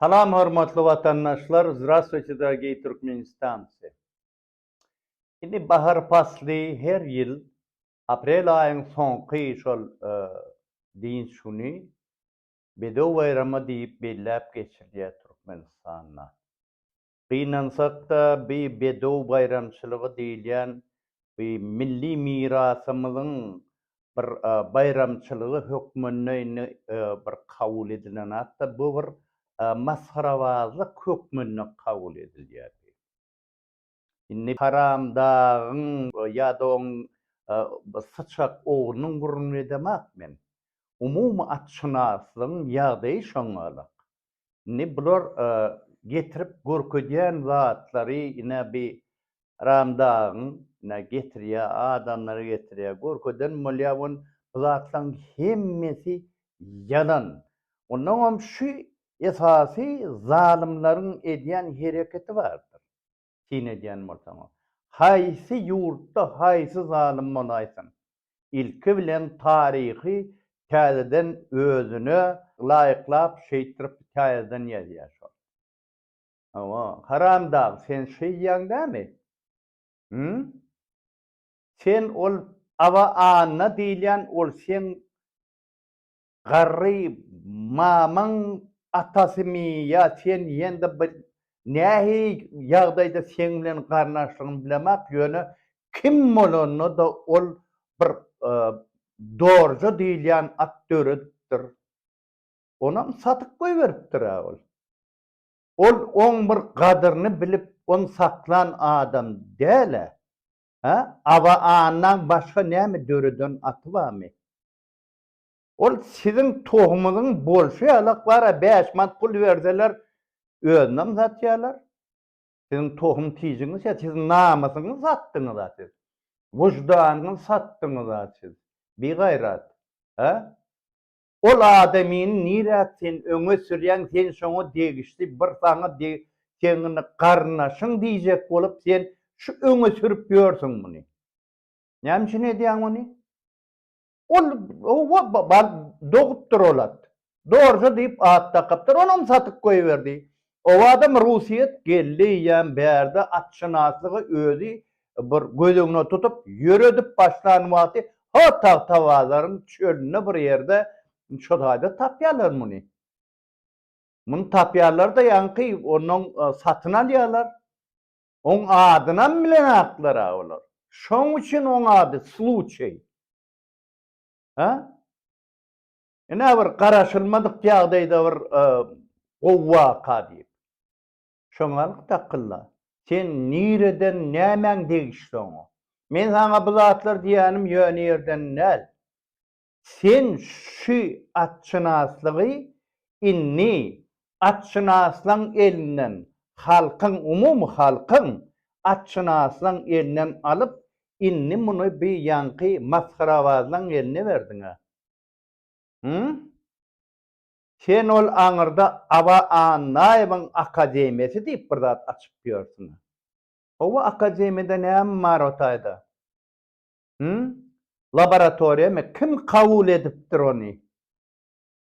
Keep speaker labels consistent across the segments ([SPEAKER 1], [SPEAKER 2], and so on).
[SPEAKER 1] Salam hormatly watandaşlar Zdrastwuýte dragii Türkmenistanci Indi bahar pasly her ýyl aprel aýyň soňky şol dynç güni bedew baýramy diýip belläp geçilýär Türkmenistanda. Gynansak-da, bi bedew baýramçylygy diýilýän bi milli mirasymyzyň bir baýramçylygy hökmünde indi bir kabul edilen zat-da, bu bir masgarabazlyk hökmünde kabul edilýär. Indi haramdagyň ýa-da oň syçak oglunyň gürrüňini edemak men. Umumy atşynaslygyň ýagdaýy şoňalak. Indi bular getirip görkezýän zatlary ine bi Ram dagyň ine getirýä adamlary getirýä görkezen bolýa on bu zatlaryň hemmesi ýalan. Onnoňam şu esasy zalymlaryň edýän hereketi bardyr. syn edýän bolsaňyz, haýsy ýurtda haýsy zalym bolaýsyn, ilki bilen taryhy täzeden özüne laýyklap şeýtirip täzeden ýazýar şol. Hawa, haramdag sen şeýýäň dämi? Hümm? Sen ol Aba Anna diýilýän ol seň Garry mamaň atasymy ýa sen ýende bir nähi ýagdaýda seň bilen garyndaşlygyny bilemak ýöne kim bolanda-da ol bir dorja diýilýän at döredipdir. Onam satyp goýberipdir-ä ol. Ol oň bir gadyryny bilip ony saklan adam däl-ä. Hä? Aba Annaň başga näme döreden aty barmy? Ol siziň tohumyňyz bolşy ýalak bara bäş manat pul berseler özünem satýalar. Siziň tohum tijiňiz ýa siz namysyňyz satdyňyza siz. Wyždanyňyz satdyňyza siz. Bi gaýrat. Hä? Ol adamyny nirä sen öňe sürýäň sen şoňa degişli bir saňa deg seňňini garyndaşyň diýjek bolup sen şu öňe sürüp ýörsüň muny. Näme üçin edýäň muny? Ol howwa bal dogupdyr olat. Dorje diýip at dakypdyr. Onam satyp goýberdi. Owadam Rusyýet geldi eýýäm bärde atşynaslygy özi bir göz öňüne tutup ýöredip başlan wagty ha Tagtabazaryň çölünde bir ýerde şo taýda tapýarlar muny. Muny tapýarlar-da ýaňky ondan satyn alýarlar. Oň adynam bilenaklar-a olar. Şoň üçin oň ady Sluçeý. Hä? Ine bir garaşylmadyk ýagdaýda bir gowy waka diýip. Şoňalyk takylla. Sen nireden, nämäň degişli oňa? Men saňa bu zatlar diýýänim ýöne ýerden däl. Sen şu atşynaslygy indi atşynaslaň elinden, halkyň, umumy halkyň atşynaslaň elinden alyp, indi muny bi ýaňky masgarabazlaň eline berdiň-ä. Hü? Sen ol aňyrda Aba Annaýewiň akademiýasy diýip bir zat açyp ýörsüň-ä. Hawa, akademiýada näme bar o taýda? Hümm? Laboratoriýamy kim kabul edipdir ony?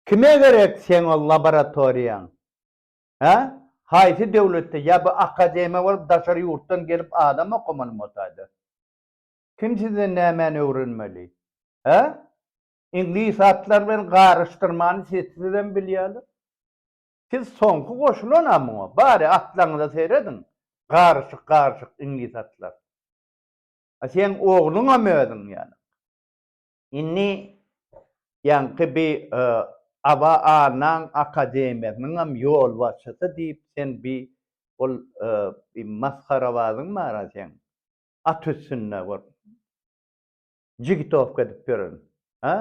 [SPEAKER 1] Kime gerek seň ol laboratoriýaň? Hä? Haýsy döwletde ýa bu akademiýa bolup daşary ýurtdan gelip adam okamalymy otayda? Kim sizden nämäni öwrenmeli? Hä? Iňlis atlar bilen garyşdyrmany siz sizem bilýäler. Siz soňky goşulan-a muňa, bary atlaryňyza serediň, garyşyk-garyşyk iňlis atlar. A seň ogluňam özüň ýaly. Indi ýaňky bi aba Annaň akademiýasynyňam ýolbaşçysy diýip sen bi ol bi masgarabazyň bar-a seň. At üstünde bir jigitowka edip ýören. A?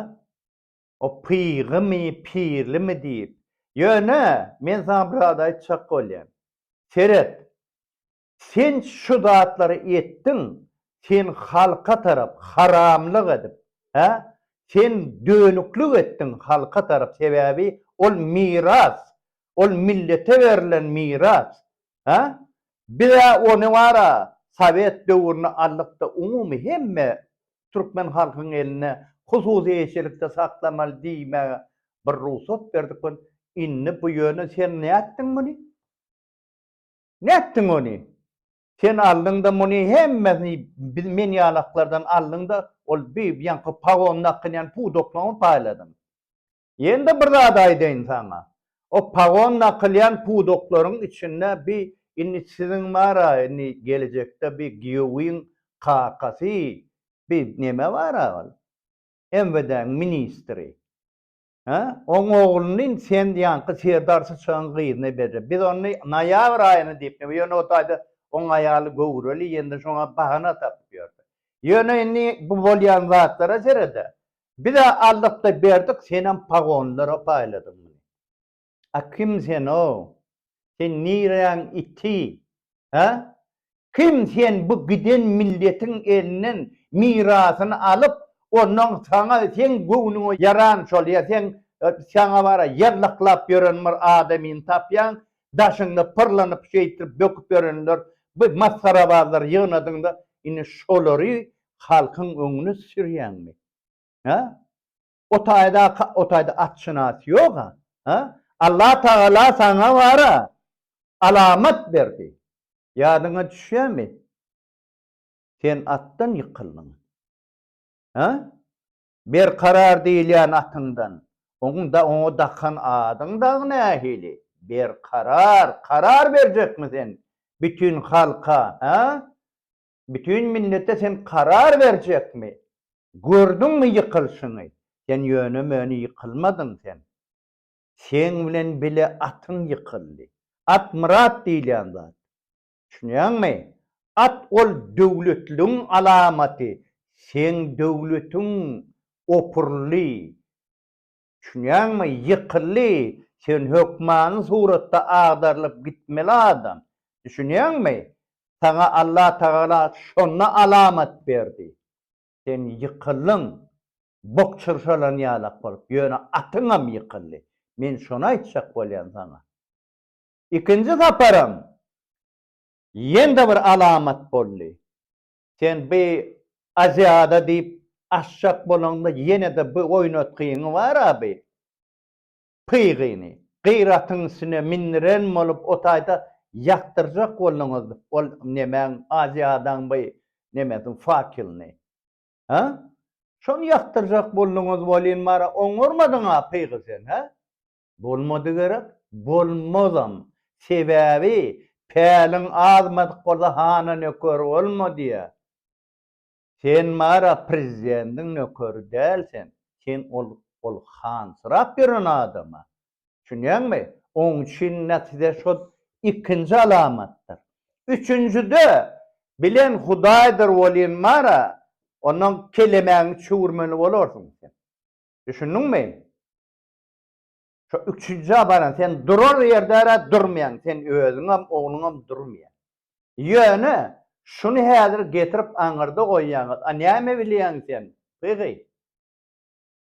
[SPEAKER 1] O pygymy, pirlimi diýip. Ýöne men saňa bir zat aýtjak bolýan. Seret, Sen şu zatlary etdiň, sen halka tarap haramlyk edip, hä? Sen dönüklik etdiň halka tarap, sebäbi ol miras, ol millete berlen miras, hä? Biz-ä ony bar-a, sowet döwründe aldyk-da, umumy hemme türkmen halkyň elinde hususy eýeçilikde saklamaly diýmäge bir rugsat berdik we indi bu ýöne sen nätdiň muny? Nätdiň ony? Sen aldyň-da muny hemmesini biz men ýalaklardan aldyň-da ol bi ýaňky pagon nakynýan pudaklaňy paýladyň. Ýene-de bir zat aýdaýyn saňa. O pagon nakylýan pudaklaryň içinde bi indi siziň bar-a indi gelejekde bi giýewiň kakasy bi neme bar-a ol MWD-niň ministri. Hä? Oň ogluny sen ýaňky serdar syçanyň gyzyna berjek. Biz ony noýabr aýyna diýip, ýöne o taýda oň aýaly göwreli, ýene-de şoňa bahana tapyp ýördi. Ýöne indi bu bolýan zatlara sered-ä. Biz-ä aldyk-da berdik, senem pagonlara paýladyň muny. A kim sen-o? Sen nireýäň iti? Hä? Kim sen bu giden milletiň elinden mirasyny alyp, ondan saňa seň göwnüňe ýaran şol ýa seň saňa bara ýallaklap ýören bir adamyny tapýaň, daşyňda pyrlanyp şeýtdirip böküp ýörenler bu masgarabazlary ýygnadyňda indi şolary halkyň öňüne sürýäňmi? Hä? O taýda o taýda atşynas ýog-a, ha? Allah Tagala saňa bar-a, alamat berdi. Ýadyňa düşýärmi? Sen atdan ýykyldyň. Ha? Berkarar diýilýän atyňdan. Oň da oňa dakan adyň dagy nähili? Berkarar. Karar berjekmi sen bütin halka, ha? Bütin millete sen karar berjekmi? Gördüňmi ýykylşyňy? Sen ýöne-möne ýykylmadyň sen. Seň bilen bile atyň ýykyldy. At myrat diýilýän zat. Düşünýäňmi? At ol döwletligiň alamaty. Seň döwletiň opurly. Düşünýäňmi, ýykyldy, sen hökmany suratda agdarylyp gitmeli adam. Düşünýäňmi? Saňa Allatagala şonda alamat berdi. Sen ýykyldyň, bok çyrşalan ýalak bolup, ýöne atyňam ýykyldy. Men şony aýtjak bolýan saňa. Ikinji saparam ýene-de bir alamat boldy. Sen bi Aziada diýip açjak bolaňda ýene-de bi oýnatgyňy bar-a bi. Pygyny, gyratyň üstüne mindiren bolup o taýda ýakdyrjak bolduňyz ol nemäň Aziadaň bi nemesini, fakylyny. Hä? Şony ýakdyrjak bolduňyz welin bara oňarmadyň-a pygy sen, hä? Bolmady gerek, bolmazam. Sebäbi päliň azmadyk bolsa hana nöker bolma diýýär. Sen bara prezidentiň nökeri däl sen, sen ol ol hansyrap ýören adama. Düşünýäňmi? Oň üçin natije şol ikinji alamatdyr. Üçünjide bilen hudaýdyr welin bara onuň kelemäňi çüwürmeli bolarsyň sen. Düşündiňmi? Şo üçünji abadan sen durar ýerde-ä durmaýaň, sen özüňem, ogluňam durmaýar. Ýöne, şuny häzir getirip aňyrda goýýaňyz, a näme bilýäň sen, gygy?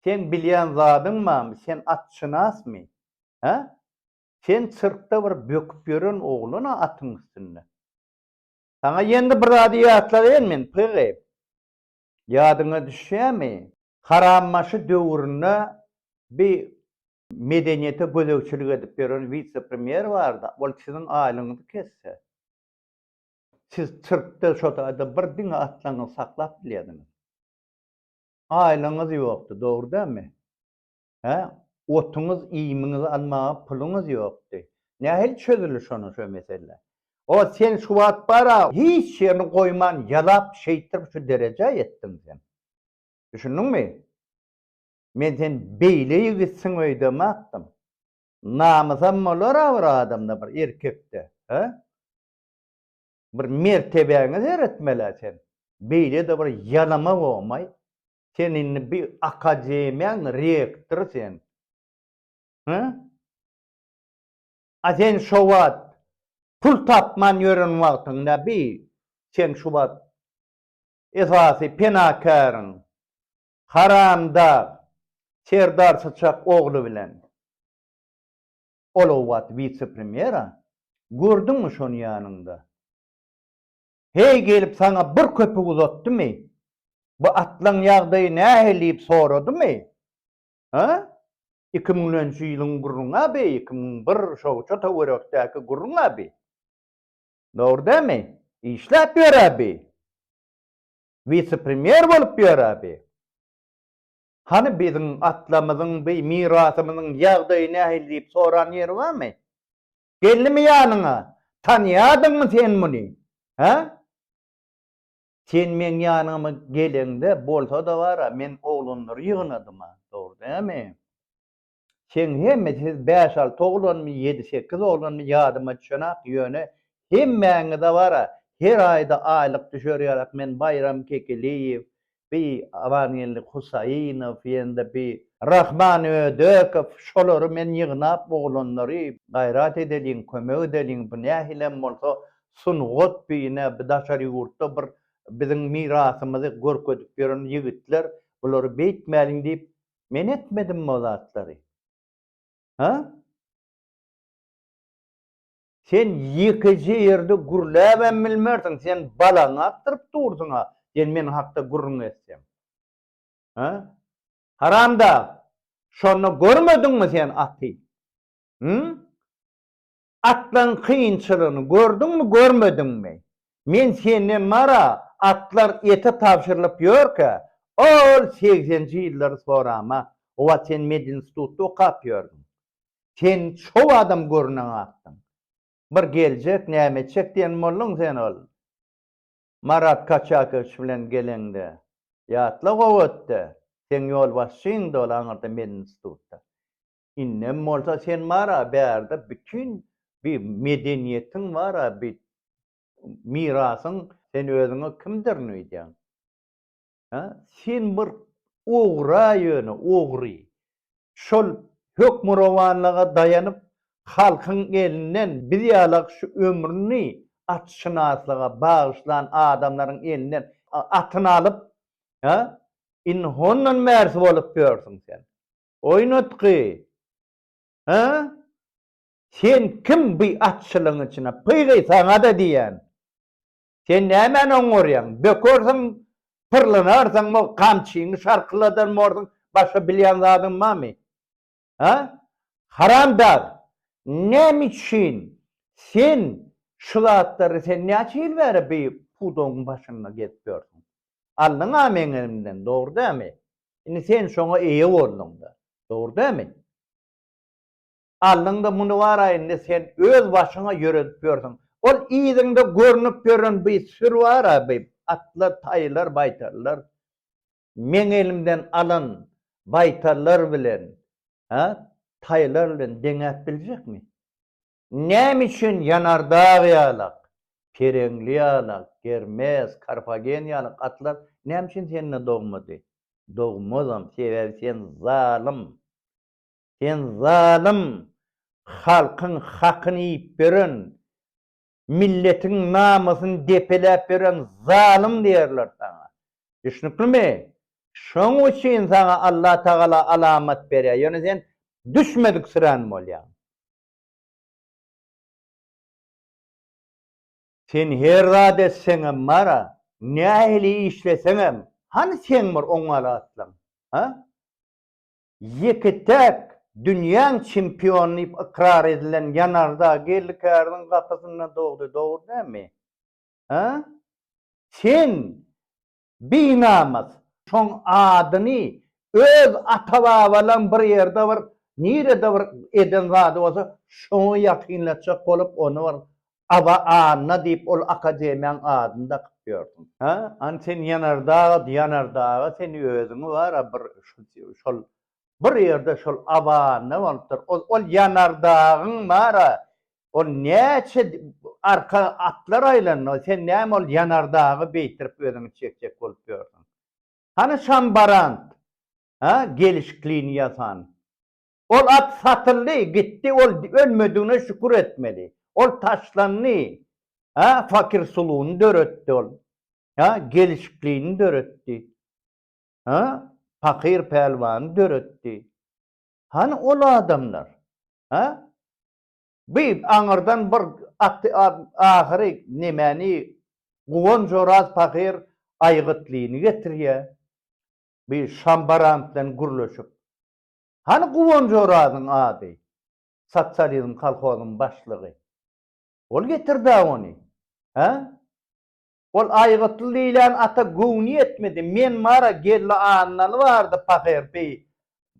[SPEAKER 1] Seň bilýän zadyň barmy, sen atşynasmy? Hä? Sen sirkde bir böküp ýören oglan-a atyň üstünde. Saňa ýendi bir zady ýatladaýyn men, gygy. Ýadyňa düşýämi? Harambaşy döwründe bi medeniýete gözegçilik edip ýören wise-premýer bardy, ol siziň aýlygyňyzy kesse, siz sirkde şo taýda bir diňe atlaňyzy saklap bilýärdiňiz. Aýlygyňyz ýokdy, dogry dälmi? Hä, otuňyz, iýmiňizi almaga puluňyz ýokdy. Nähili çözüli şonuň şo mesele? O, sen şu wagt bar-a, hiç ýerini goýman ýalap, şeýtdirip şu derejä ýetdiň sen. Düşündiňmi? Men sen beýle ýigitsiň öýdemäpdim. Namysam bolar-a bir adamda, bir erkekde, hä? Bir mertebäňe seretmeli-ä sen. Beýle-de bir ýalama bolmaý. Sen indi bir akademiýaň rektory sen. Hä? A sen şo wagt pul tapman ýören wagtyňda bir sen şu wagt esasy penakäriň haramdag Serdar Syçak ogly bilen ol o wagt wise-premýera. Gördüňmi şony ýanyňda? Heý gelip saňa bir köpük uzatdymy? Bu atlaň ýagdaýy nähili diýip soradymy? Hä? Iki müňlenji ýylyň gürrüňi-ä bi, iki müň bir şowça töwerekdäki gürrüň-ä bi. Dogry dälmi? Işläp ýör-ä bi. Wise-premýer bolup ýör-ä bi. Hany biziň atlamyzyň bi mirasymyzyň ýagdaýy nähili diýip soran ýeri barmy? Geldimi ýanyňa? Tanýadyňmy sen muny? Hä? Sen meň ýanyma geleňde, bolsa-da bar-a, men oglanlary ýygnadym-a. Dogry dälmi? Seň hemme, siz bäş-alty oglanmy, ýedi-sekiz oglanmy, ýadyma düşenak, ýöne hemmäňize bar-a, her aýda aýlyk düşer ýarak, men Baýram Kekiliýew, bi Abangeldi Husaýynow ýa-da bi Rahman Ödekow şolary men ýygnap oglanlary gaýrat edeliň kömek edeliň bu nähilem bolsa sungat bine bi daşary ýurtda bir biziň mirasymyzy görkezip ýören ýigitler bulary beýtmäliň diýip men etmedim o zatlary ha. Sen ýekeje ýerde gürläbem bilmersiň, sen balaňy atdyryp dursuň-a, diýen meniň hakda gürrüň etseň. Hä? Haramdag, şonda görmediňmi sen aty? Hü? Atlaryň kynçylygyny gördüňmi, görmediňmi? Men senden mara atlar ete tabşyrylyp ýörkä, ol segsenji ýyllary sorama, o wagt sen medinstitutda okap ýördüň. Sen çow adam görünen atdyň. Bir geljek, näme etjek diýen bolduň sen ol Marat Kaçakowiç bilen geleňde. Ýatla gowy etde. Seň ýolbaşçyňdy ol aňyrda medinstitutda. Indem bolsa sen bar-a bärde bütin bi medeniýetiň bar-a bi mirasyň sen özüňe kimdirin öýdýäň. Hä, sen bir ogra ýöne, ogry. Şol hökmürowanlyga daýanyp, halkyň elinden biz ýalak şu ömrüni atşynaslyga bagyşlan adamlaryň elinden atyny alyp, hä, indi hondan bärsi bolup ýörsüň sen. Oýnatgy! Hä? Sen kim bu atçylygyň içine? Pygy, saňa-da diýýän! Sen nämäni oňarýaň? Bökersiň, pyrlanarsyňmy, gamçyňy şarkyladan borsuň, başga bilýän zadyň barmy? Hä? Haramdag, näme üçin sen şu zatlary, sen näçe ýyl bäri bu pudagyň başynda gezip ýörsüň? Aldyň-a meň elimden, dogry dälmi? Indi sen şoňa eýe bolduň-da, dogry dälmi? Aldyňda muny bar-a indi sen öz başyňa ýöredip ýörsüň. Ol yzyňda görnüp ýören bi sür bar-a bi atlar, taýlar, baýtarlar. Meň elimden alan baýtarlar bilen, hä, taýlar bilen deňäp biljekmi? Näme üçin Ýanardag ýalak, Pereňli ýalak, Germes, Karfagen ýalak atlar näme üçin sende dogmady? Dogmazam, sebäbi sen zalym. Sen zalym, halkyň hakyny iýip ýören, milletiň namysyny depeläp ýören zalym diýerler saňa. Düşnüklimi? Şoň üçin saňa Allatagala alamat berýär, ýöne sen düşmediksirän bolýaň. Sen her zat etseňem bar-a, nähili işleseňem, hany seň bir oňňaly atlaň? Ha? Ýeke-täk dünýäň çempiony diýip ykrar edilen Ýanarda Geldikäriň gapysynda dogdy, dogry dälmi? Hä? Sen, binamys, şoň adyny öz ata-babalaň bir ýerde bir, nirede bir eden zady bolsa, şoňa ýakynlatjak bolup, ony bir Aba Anna diýip ol akademiýaň adyny dakyp ýörsüň. Hä, an sen ýanardag, ýanardaga sen özüňi bar-a bir şol bir ýerde şol Aba Anna bolupdyr. Ol ol ýanardagyň bar-a, ol näçe arka atlar aýlandy, sen näme ol ýanardagy beýtirip özüňi çekjek bolup ýörsüň. Hany şambarant, hä, gelişikliýini ýasan. Ol at satyldy, gitdi, ol ölmedigine şükür etmeli. Ol taşlandy, hä, fakirsulugyny döretdi ol, hä, gelşiklini döretdi, hä, pakyr pälwany döretdi. Hany ol adamlar, hä? Bi aňyrdan bir aty ahyry nemäni, Guwanç Oraz pahyr Aýgytlyny getirýär, bi Şambaran bilen gürleşip. Hany Guwanç Orazyň ady? Sosializm kolhozyň başlygy. Ol getird-ä ony. Hä? Ol Aýgytly diýlen ata göwni ýetmedi. Men bar-a, Geldi Annaly bardy pahyr bi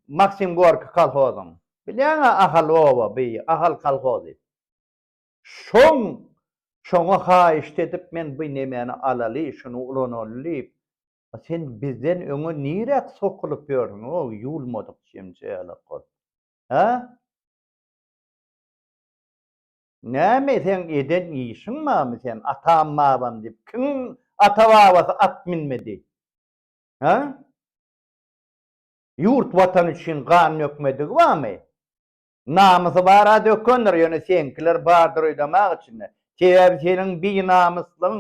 [SPEAKER 1] Maksim Gorki kolhozyň. Bilýäň-ä Ahal oba bi Ahal kolhozy. Şoň, şoňa haýyşt edip men bi nemeni alaly, şuny ulanaly diýip, Sen bizden öňe niräk sokulyp ýördüň, o ýuwulmadyk jemjelek bolup? Hä? Näme seň eden işiň barmy sen atam-babam diýip kimiň ata-babasy at minmedi? Hä? Ýurt-watan üçin gan dökmedigi barmy? Namysy bar a dökündir ýöne seňkiler bardyr öýdemag içinde sebäbi seniň binamyslygyň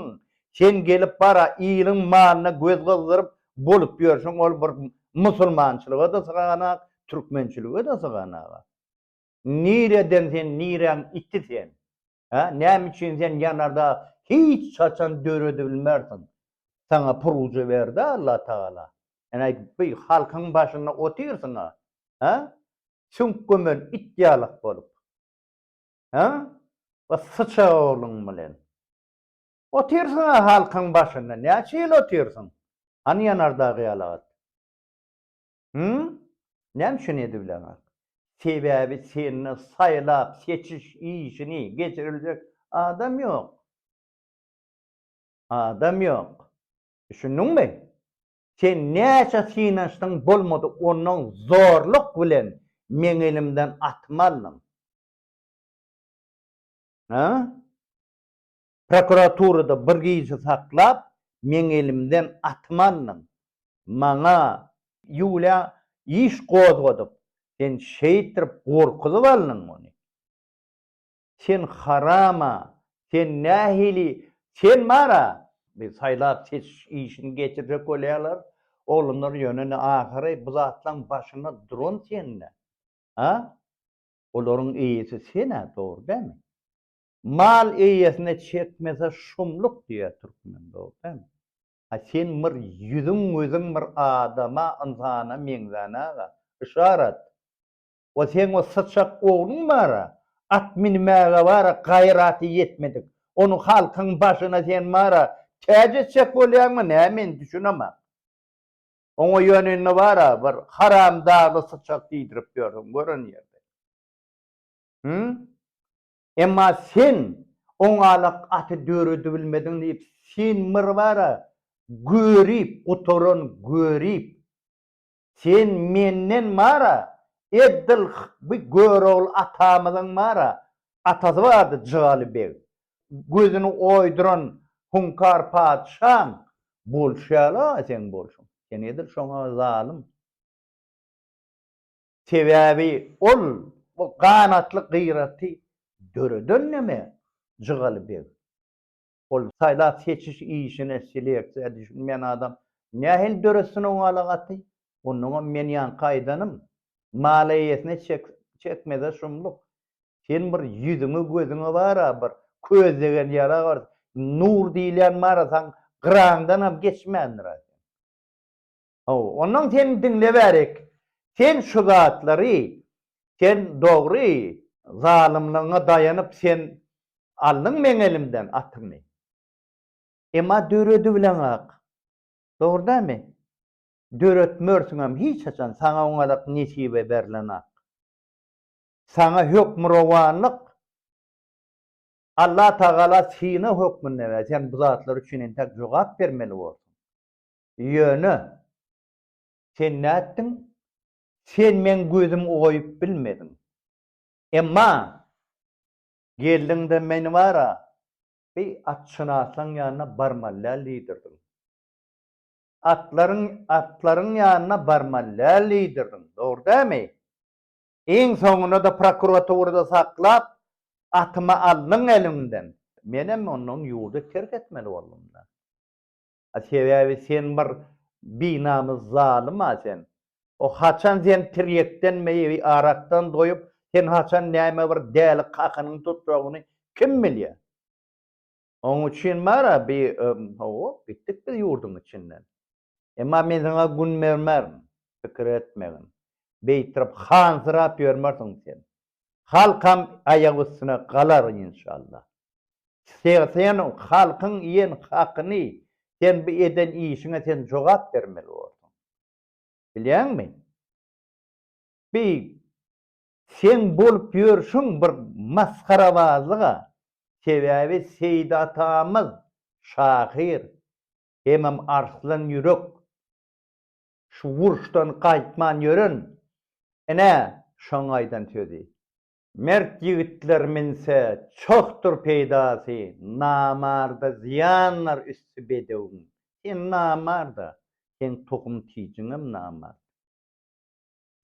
[SPEAKER 1] sen gelip bar a iliň malyna göz gyzdyryp bolup ýörşüň ol bir musulmançylyga da syganak türkmençilige de syganak a nireden sen niräň iti sen Hä, näme üçin sen ýanarda hiç haçan döredibilmersiň? Saňa puruja berdi-ä Allah Tagala. Ine, bu halkyň başynda otyrsyň-a, hä? Süňk gömen it ýalak bolup. Hä? Bu syçag ogluň bilen. Otyrsyň-a halkyň başynda, näçe ýyl otyrsyň? Hany ýanardagy ýalagat? Hümm? Näme üçin edibileňok? Sebäbi sende saýlap seçiş işini geçiriljek adam ýok. Adam ýok. Düşündiňmi? Sen näçe synanyşdyň bolmady ondan zorluk bilen meň elimden atymy aldyň. Hä? Prokuraturada bir gyzy saklap, meň elimden atymy aldyň. Maňa Ýulýa iş gozgadyp, sen şeýtirip gorkuzyp aldyň ony. Sen haram-a, sen nähili, sen bar-a! Biz saýlap-seçiş işini geçirjek bolýarlar, oglanlar ýöne ahyry bu zatlaryň başynda duran sen-dä. A? Olaryň eýesi sen-ä, dogry dälmi? Mal eýesine çekmese şumluk diýýär türkmen dogry dämi? Ha sen bir ýüzüň gözüň bir adama ynsana meňzän aga. Yşarat. O seň o syçak ogluň bara at minmäge bara gaýraty ýetmedik. Ony halkyň başyna sen bara täç etjek bolýaňmy näme men düşünemok. Oňa ýöne indi bara bir haramdagly syçak diýdirip ýörsüň gören ýerden. Hü? Emma sen oňalak aty döredibilmediň diýip sen bir bara görip gutaran görip sen menden bara eddil by görogly atamyzyň bara atasy bardy jygaly beg gözüni oýduran hunkar patyşaň bolşy ýaly a seň bolşuň sen edil şoňa zalym. Sebäbi ol bu ganatly gyraty döreden neme Jygaly beg. Ol saýlap-seçiş işine, seleksiýa düşünmeýän adam nähili döretsin o galagaty? Onnoňam men ýaňky aýdanym, Mal eýesine çekmeze şumluk. Sen bir ýüzüňe, gözüňe bar-a bir köz degen ýala bar. Nur diýilýän bar-a, saň gyraňdanam geçmändir-a sen. Haw, ondan sen diňlebärik. Sen şu zatlary, sen dogry zalymlygyňa daýanyp sen aldyň meň elimden atymy. Emma döredibileňok. Dogry dälmi? Döretmersiňem hiç haçan, saňa oňalyk nesibe berlenok. Saňa hökmürowanlyk Allatagala synag hökmünde berdi. Sen bu zatlar üçin entek jogap bermeli bolduň. Ýöne, sen nätdiň? Sen meň gözüm goýup bilmediň. Emma, geldiň-de meni bar-a, bi atşynaslaň ýanyna barmaly däl diýdirdiň. Atlaryň, atlaryň ýanyna barmaly däl diýdirdiň, dogry dämi? Iň soňunda-da prokuraturada saklap, atymy aldyň eliňden. Menem ondan ýurdy terk etmeli boldum-da. A sebäbi sen bir binamys zalym-a sen. O haçan sen tirýekden meýewi arakdan doýup, sen haçan näme bir däli kakynyň tutjagyny kim bilýä. Oň üçin bar-a bi Hop, gitdik biz ýurduň içinden. Emma men saňa gün bermerin, pikir etmegin. Beýtrip hansyrap ýörmersiň sen. Halkam aýak üstüne galar inşallah. Sen halkyň iýen hakyny, sen bu eden işiňe sen jogap bermeli borsuň. Bilýäňmi? Bi seň bolup ýörşüň bir masgarabazlyga. Sebäbi Seýit atamyz şahyr hemem arslan ýürek. Şu uruşdan gaýtman ýören, ine, şoň aýdan sözi. Mert ýigitler minse, çohdur peýdasy, namarda zyýanlar üsti bedewiň. Sen namarda, seň tohum-tijiňem namart.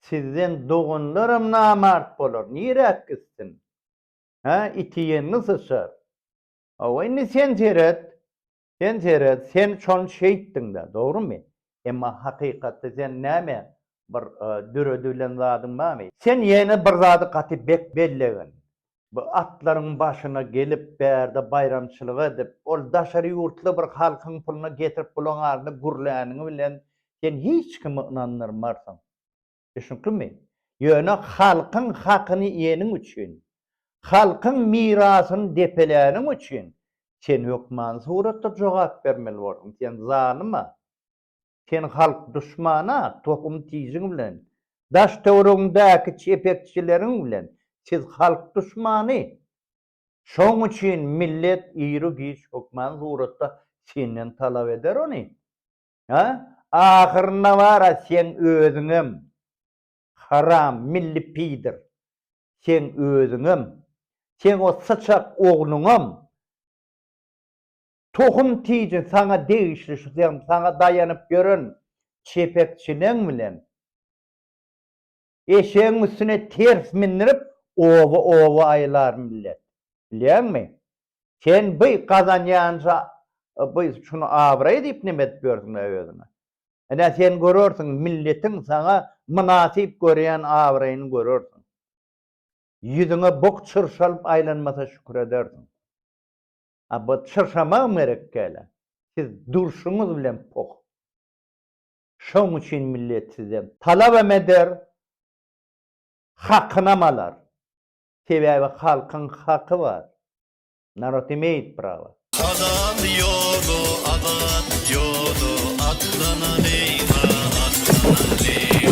[SPEAKER 1] Sizden doganlaram namart bolar, niräk gitsin? Hä, iti ýeňňi syçar. Hawa, indi sen seret, Sen seret, sen şony şeýtdiň-dä, dogrumy? Emma hakykatda sen näme, bir döredilen zadyň barmy? Sen ýene bir zady gaty bek bellegen. Bu atlaryň başyna gelip, bärde baýramçylyk edip, ol daşary ýurtly bir halkyň puluna getirip bulaňarynda gürläniň bilen sen hiç kimi ynandyrmarsyň. Düşnüklimi? Ýöne halkyň hakyny iýeniň üçin, halkyň mirasyny depeläniň üçin sen hökmany suratda jogap bermeli boldun. Sen zalyma, sen halk duşmana, tohum tijiň bilen, daş-töweregiňdäki çepekçileriň bilen siz halk duşmany. Şoň üçin millet ýru-giç hökmany suratda senden talap eder ony. Ha? Ahyrynda bar-a seň özüňem, haram, milli piýdir, seň özüňem, seň o syçak ogluňam, tohum tiji saňa degişli şu sen saňa daýanyp ýören çepekçileň bilen Eşegiň üstüne ters mindirip, oba-oba aýlar millet. Bilýäňmi? Sen by gazanýança by şuny abraý diýip neme edip ýörsüň-ä özüňe? Ine, sen görersiň, milletiň saňa mynasyp görýän abraýyny görersiň. Ýüzüňe bok çyrşalyp aýlanmasa şükür edersiň. A bu çyrşamagam gerekkä-le. Siz durşuňyz bilen poh. Şoň üçin millet sizden talabam eder, hakynam alar. Sebäbi halkyň haky bar. Narod imeýit prawa. Azat ýoly azat ýoly atlanalýa atlanalýa.